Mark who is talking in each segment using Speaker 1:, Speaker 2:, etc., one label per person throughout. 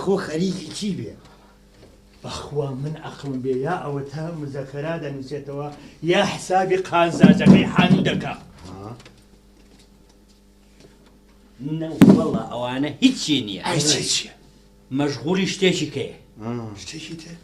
Speaker 1: ئاخۆ خەریکی چی بێ؟ بەخوا من ئەقڵم بێ یا ئەوە تا مزەکەرا دەنووسێتەوە یا حسابی قازاجەکەی حانوو دەکا نەوەڵا ئەوانە هیچی نییە هیچیە مەشغولی شتێکی کەیە شتێکی تێ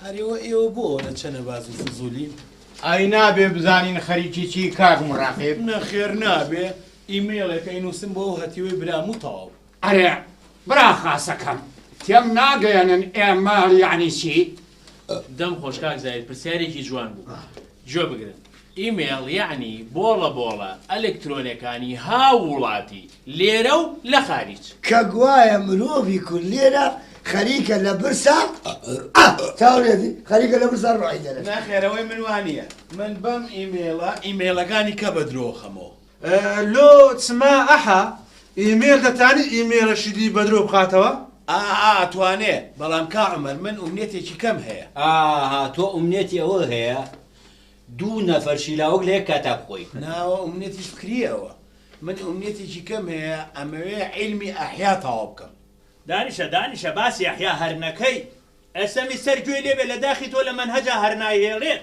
Speaker 1: ئەریەوە ئێوە بۆ لە چەنە باز و فزولی ئای نابێ بزانین خەریکی چی کاک مڕاقێب نەخێر نابێ ئیمەیڵێک ئەی نووسم بۆ ئەو هەتیوەی برام و تەواو ئەرێ برا خاسەکەم تێم ناگەیەنن ئێمە یعنی چی؟ دەم خۆش کاک زاهیر پرسیارێکی جوان بوو گوێ بگرن ئیمێڵ یەعنی بۆڵە بۆڵە ئەلکترۆنەکانی هاووڵاتی لێرە و لە خاریج. کە گوایە مرۆڤی کورد لێرە خەریکە لە برسا ئا چاوەرێتی خەریکە لە برسا ڕۆحی دەرەچێ. نەخێر ئەوەی من وانیە من بەم ئیمێڵە ئیمێڵەکانی کە بەدرۆخەمەوە. لۆ چما ئەحە ئیمێل دەتانی ئیمێلەشی لی بەدرۆ بخاتەوە؟ ئاا ئەتوانێ بەڵام کا عومەر من ئومنێتێکی کەم هەیە. ئاا تۆ ئومنێتی ئەوە هەیە دوو نەفەر شیلاوک لە یەک کاتا بخۆی. ناوە ئومنێتی فکریە ئەوە. من ئومنێتێکی کەم هەیە ئەمەوێ عیلمی ئەحیا تەواو بکەم. دانیشە دانیشە باسی یەحیا هەرنەکەی ئەسەمی سەر گوێی لێبێ لە داخی تۆ لە مەنهەجا هەرنایهێڵێت.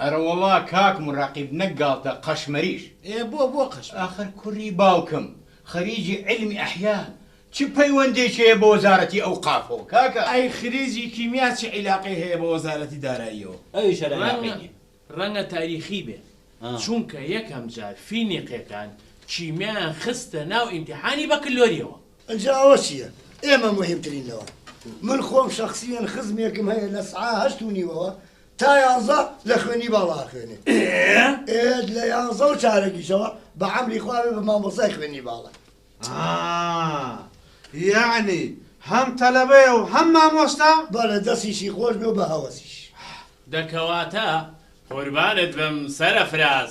Speaker 1: ئەرەوەڵا کاک موراقیب نەک گاڵتە قەشمەریش. ئێ بۆ بۆ قەشمەر؟ ئاخر کوری باوکم خەریجی علمی احیا چ پەیوەندێکی هەیە بە وەزارەتی ئەوقافەوە کاکە؟ ئەی خریجی کیمیا چ عیلاقەی هەیە بە وەزارەتی داراییەوە؟ ئەویش هەر عیلاقەی نیە. ڕەنگە تاریخی بێ چونکە یەکەم جار فینیقیەکان کیمیایان خستە ناو ئیمتیحانی بەکلۆریەوە. ئنجا ئەوە چیە ئێمە موهیمترین لەوە. من خۆم شەخسیەن خزمێکم هەیە لە سعە هەشت و نیوەوە تا یانزە لە خوێندنی باڵا ئەخوێنێ. ئێ لە یانزە و چارەکیشەوە بە عەمری خوا بێ بە مامۆستای خوێندنی باڵا. ئا یەعنی هەم تەلەبەیە و هەم مامۆستا؟ بەڵێ دەستیشی خۆش بێ و بە هەوەسیش. دە کەواتە قوربانت بم سەرەفراز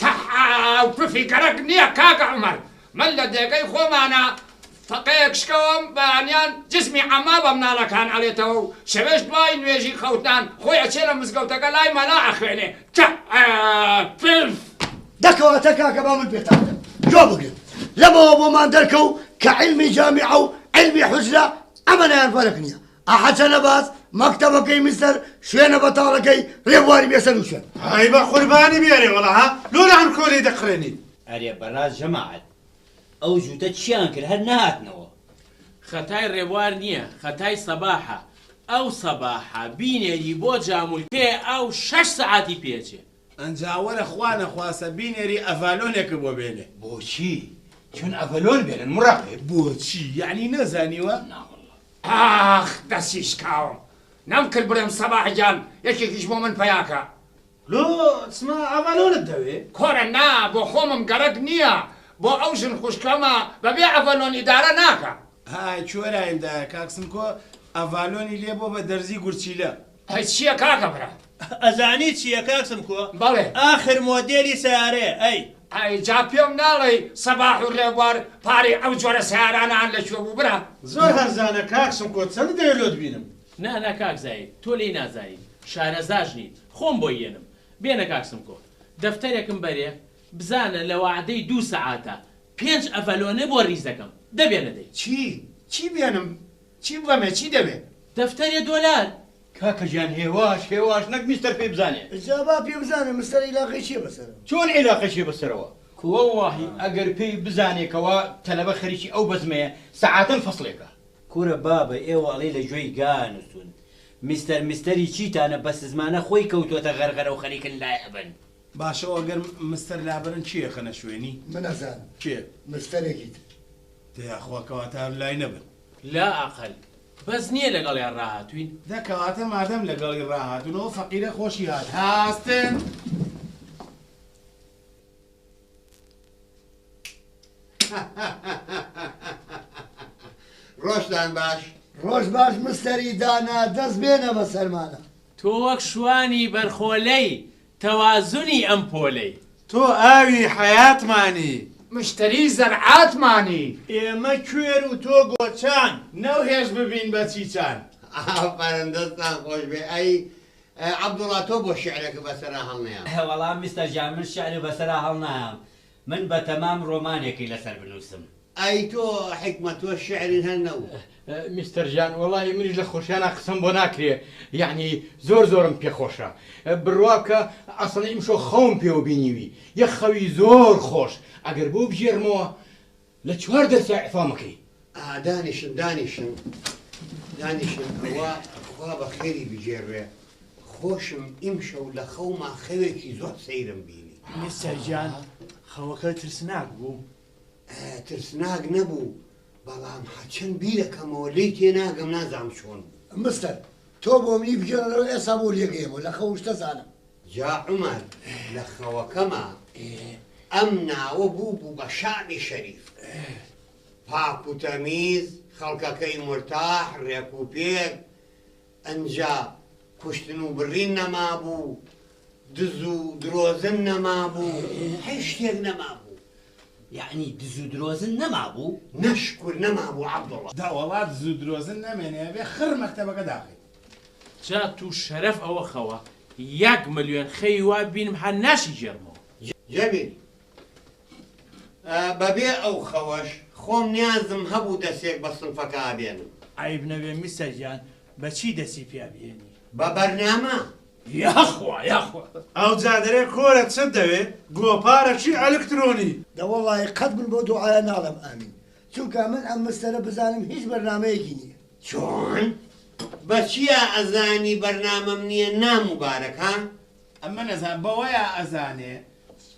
Speaker 1: تەحااو پفی گەرەک نیە کاکە عومەر من لە دێگەی خۆمانا فەقێیەک شکەوەم بەیانیان جسمی عەمما بە مناڵەکان ئەلێتەوە و شەوێش دوای نوێژی خەوتنان خۆی ئەچێ لە مزگەوتەکە لای مەلا ئەخوێنێ تەحاا پف. دە کەواتە کاکە با من پێتان بڵێم گوێ بگرن لەمەوە بۆمان دەرکەو کە عیلمی جامیعە و عیلمی حوجرە ئەمەنەیان فەرق نیە ئەحە چەنە باس مەکتەبەکەی میسر شوێنە بەتاڵەکەی رێبواری بێسەرو شوێن. ئای بە قوربانی بی ئەرێ وەڵا ها لۆ لە ئەنکۆ لێی دەقرێنین. ئەرێ بەڕاست جەماعەت ئەو جووتە چیان کرد هەر نەهاتنەوە. خەتای ڕێبوار نیە خەتای سەباحە ئەو سەباحە بینێری بۆ جامولکەیە ئاو شەش سەعاتی پێ ئەچێ. ئەنجا وەرە خوا نەخواستە بینێری ئەڤالۆنێکت بۆ بێنێ. بۆچی چون ئەڤەلۆن بێنن مڕەقیب. بۆچی یەعنی نەزانیوە؟ نا واللە. ئاخ دەستی شکاوم نەم کرد بڵێم سەباح گیان یەکێکیش بۆ من پەیاکە. لۆ چما ئەڤەلۆنت دەوێ؟ کورە نا بۆ خۆمم گەرەک نییە بۆ ئەو ژن خوشکەمە بەبێ ئەڤەلۆن ئیدارە ناکا. ئای کوێرایم دایە کاک سمکۆ ئەڤالۆنی لێ بۆ بە دەرزی گورچیلە. ئەی چیە کاکە برا. ئەزانی چیە کاک سمکۆ بەڵێ. ئاخر مۆدێلی سەیارەیە ئەی. ئەی جا پێم ناڵێی سەباح و رێبوار پارەی ئەو جۆرە سەیارانەان لە کوێ بوو برا. زۆر هەرزانە کاک سمکۆ چەند دەوێ لۆت بینم. نا نا کاک زاید تۆ لێی نازانی شارەزاش نیم خۆم بۆی یەنم بێنە کاک سمکۆ دەفتەرێکم بەرێ بزانە لە وەعدەی دوو سەعاتە پێنج ئەڤەلۆنێ بۆ ریز دەکەم دەبێنە دەی. چی چی بێنم؟ چی بڵێمێ چی دەوێ؟ دەفتەرێ دۆلار. کاکە گیان هێواش هێواش نەک میستەر پێی بزانێ. جا با پێ بزانێ مستەر ئیلاقەی چیە بە سەرەوە. چۆن ئیلاقەی چیە بە سەرەوە؟ کو وەڵاهی ئەگەر پێی بزانێ کەوا تەلەبە خەریکی ئەو بەزمەیە سەعاتەن فەسڵێکە. کورە بابە ئێوە ئەڵێی لە گوێی گا نوسون میستەر میستەری چیتانە بەسزمانە خۆی کەوتۆتە غەرغەرەو خەریکن لای ئەبەن. باشە و ئەگەر مستەر لابەرن چی ئەخەنە شوێنی؟ من ئەزانم. کێ؟ مستەرێکی تر. تە یاخوا کەواتە هەر لای نەبن. لا ئەقەل بەس نیە لەگەڵیان ڕاهاتووین. دە کەواتە مادەم لەگەڵی ڕاهاتوون ئەو فەقیرە خۆشی هات هاستن. ڕۆژتان باش. ڕۆژ باش مستەری دانا دەست بێنە بەسەرمانا. تۆ وەک شوانی بەرخۆلەی تەوازنی ئەم پۆلەی. تۆ ئاوی حەیاتمانی. مشتری زەرعاتمانی. ئێمە کوێر و تۆ گۆچان. نەو هێز ببین بە چیچان. ئافەرم دەستتان خۆشبێ ئەی عەبدوڵا تۆ بۆ شیعرەکە بەسەرا هەڵنەیام. وەڵا میستەر گیان من شیعر بەسەرا هەڵنایام من بەتەمام ڕۆمانێکی لەسەر بنوسم. ئای تۆ حیکمە تۆ شیعری هەر نەوت. میستەر ژان وەڵاهی منیش لە خۆشیانا قسەم بۆ ناکرێ یەعنی زۆر زۆرم پێ خۆشە بڕوا بکە ئەسڵەن ئیمشۆ خەوم پێوە بینیوی یە خەوی زۆر خۆش ئەگەر بۆ بگێڕمەوە لە چوار دەرسا اعفام اکەی. ئا دانیشن دانیشن دانیشن ئەوە خوا بە خێری بگێڕێ خۆشم ئیمشەو لە خەوما خەوێکی زۆر سەیرم بینی. میسر گیان خەوەکە ترسناک بوو؟ ئا ترسناک نەبوو بەڵام هەرچەن بیرەکەمەوە لێی تێناگەم نازام چۆن بوو. مستەر تۆ بۆ منی بگێڕەرەوە ئێسا بۆ لێگەیەمەوە لە خەوم شتە زانم. جا عومەر لە خەوەکەما ئەم ناوە بوو بوو بە شەعبی شەریف پاک و تەمیز خەڵکەکەی مورتاح ڕێک و پێک ئەنجا کوشتن و بڕین نەما بوو دز و درۆزن نەما بوو هەی شتێک نەما بوو یعنی دز و درۆزن نەما بوو؟ نەشکور نەما بوو عەبدوڵا. دەوەڵا دزو درۆزن نەمێنێ ئەبێ خڕ مەکتەبەکە داخەیت. جا توو شەرەف ئەوە خەوە یەک ملیۆن خەوی وا بینم هەر ناشی گێرمەوە. جەمیل. ئە بە بێ ئەو خەوەش خۆم نیازم هە بوو دە سێک بە سنفەکە ئە بێنم. عەیب نەبێ میسە گیان بە چی دەسی پیا بهێنی؟ بە بەرنامە. یاخوا یاخوا. ئەوجا دەرێ کۆرە چت دەوێ گۆپارە چی ئەلکترۆنی. دە وەڵاهی قەت من بەو دوعایە ناڵێم ئامین چونکا من ئەم مستەرە بزانم هیچ بەرنامەیەکی نیە. چۆن؟ بە چیا ئەزانی بەرنامەم نیە نا موبارەک ها؟ ئەمن ئەزان بەوەیا ئەزانێ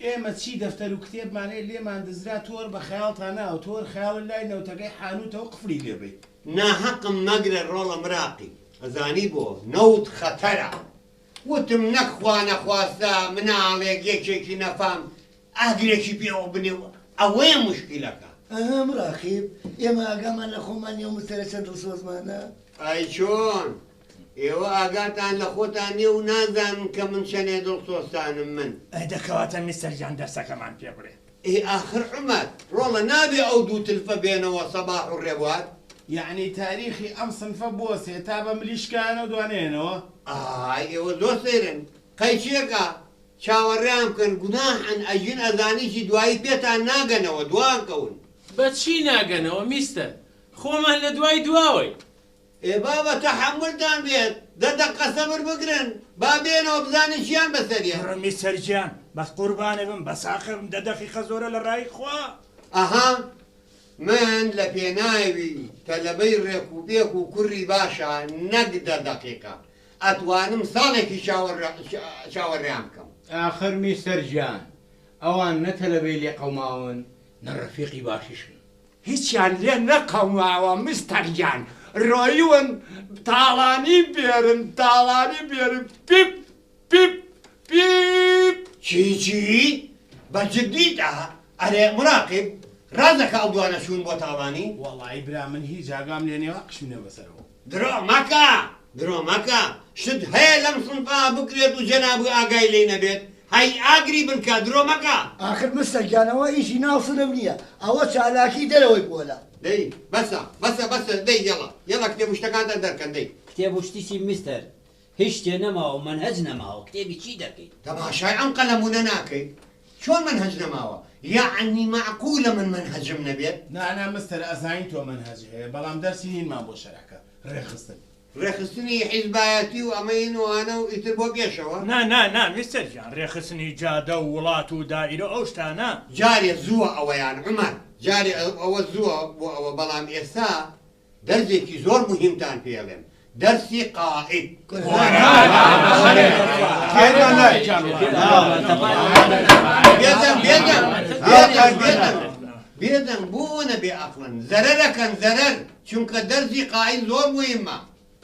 Speaker 1: ئێمە چی دەفتەرو کتێبمان هەیە لێمان دزرا تۆر بە خەیاڵتا ناو تۆر خەیاڵە لای نەوتەکەی حانوتەوە قفلی لێ بەی. ناهەقم مەگرە ڕۆڵە مراقی. ئەزانی بۆ؟ نەوت خەتەرە. وتم نەک خوانەخواستە مناڵێک یەکێکی نەفام ئاگرێکی پێوە بنێ و ئەوەیە موشکیلەکە. ئەها مراقیب ئێمە ئاگامان لە خۆمان نیە و مستەرە چەند دڵسۆزمانە. ئای چۆن؟ ئێوە ئاگاتان لە خۆتان نیە و نازانن کە من چەنێ دڵسۆزتانم من. ئەی دە کەواتە میستەر گیان دەرسەکەمان پێ بڵێ. ئێ ئاخر عومەر ڕۆڵە نابێ ئەو دوو تلفە بێنەوە سەباح و ڕێبوار. یەعنی تاریخی ئەم سنفە بوەسێ تا بە ملی شکایانەوە دوانەیەنەوە؟ ئای ئێوە زۆر سەیرن قەیچێکا چاوەڕێیان بکەن گوناحن ئەژین ئەزانیشی دوایی پێتان ناگەنەوە دواکەون. بە چی ناگەنەوە میستەر خۆمان لە دوای دواوەین. ئێ بابە تەحەمولتان بێت دە دەقە سەبر بگرن با بێنەوە بزانین چیان بەسەریە. کوڕە میستەر گیان بەس قوربانت بم بەساخە بم دە دەقیقە زۆرە لە ڕای خوا. ئەها من لە پێناوی تەلەبەی ڕێک و پێک و کوڕی باشا نەک دە دەقیقە ئەتوانم ساڵێکی چاوەڕێیان بکەم. ئاخر میستەر جان ئەوان نە تەلەبەی لێ قەوماون نە ڕەفیقی باشیشن. هیچیان لێ نەقەوماوە مستەر جان ڕۆیون تاڵانی بێرن تاڵانی بێرن پیپ پیپ پیپ. چی چی؟ بە جدیت ئە؟ ئەرێ مراقیب ڕاست دەکا ئەو دوانە چوون بۆ تاڵانی؟ وەڵایی برا من هیچ ئاگام لێ نیە وا قشمینە بەسەرەوە. درۆ مەکە درۆ مەکە شت هەیە لەم سنفا بکرێت و جەنابی ئاگای لێی نەبێت هەی ئاگری بنکە درۆ مەکە. ئاخر مستەک گیان ئەوە ئیشی ناو سنف نییە ئەوە چالاکی دەرەوەی پۆلە. دەی بەسە بەسە بەسە دەی یەڵا یەڵا کتێب و شتەکانتان دەرکەن دەی. کتێب و شتیچی مستەر هیچ شتێ نەماوە مەنهەج نەماوە کتێبی چی دەکەیت. تەماشای ئەم قەلەمونە ناکەیت چۆن مەنهەج نەماوە یەعنی مەعقولە من مەنهەجم نەبێت. نا نا مستەر ئەزانین تۆ مەنهەج هەیە بەڵام دەرسی نینمان بۆ شەرعکە ڕێکخستن. ڕێکخستنی حیزبایەتی و ئەمە ین و ئانە و ئیتر بۆ گێشەوە. نا نا نا میستەر گیان ڕێکخستنی جادە و وڵات و دائیرە و ئەو شتانە. جارێ زووە ئەوەیان عومەر. جارێ ئەوە زووە بۆ ئەوە بەڵام ئێستا دەرزێکی زۆر موهیمتان پێ ئەڵێم دەرسی قائید. بێدەنگ بۆ ئەوەنە بێ ئەقڵن زەرەرەکەن زەرەر چونکە دەرزی قائیل زۆر مویمە.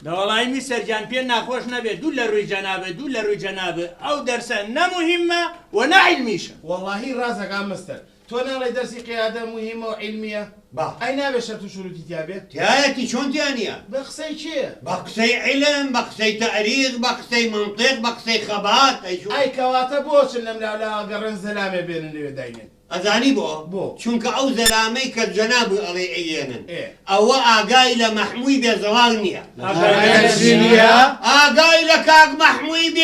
Speaker 1: دەوەڵای میسر گیان پێ ناخۆش نەبێ دوو لە روی جەناب دوو لە روی جەناب ئەو دەرسە نە موهیمە و نە عیلمیشە. وەڵاهی ڕاست ئەکا مستەر. تۆ ناڵێی دەرسی قیادە موهیمە و عیلمیە؟ با. ئەی نابێ شەرت و شوروتی تیا بێ؟ تیایەتی چۆن تیا نیە؟ بە قسەی کێ؟ بە قسەی عیلم بە قسەی تاریخ بە قسەی مەنتیق بە قسەی خەبات ئەی چۆن؟ ئەی کەواتە بۆ چن لەم لاو لاوە گەڕێن زەلامێ بێنن لەوێ داینێن؟ ئەزانی بۆ؟ بۆ؟ چونکە ئەو زەلامەی کە جەنابوی ئەڵێی ئەیێنن ئێ. ئەوە ئاگای لە مەحموی بێ زەڵاو نیە. ئاگای لە چی نیە؟ ئاگای لە کاک مەحموی.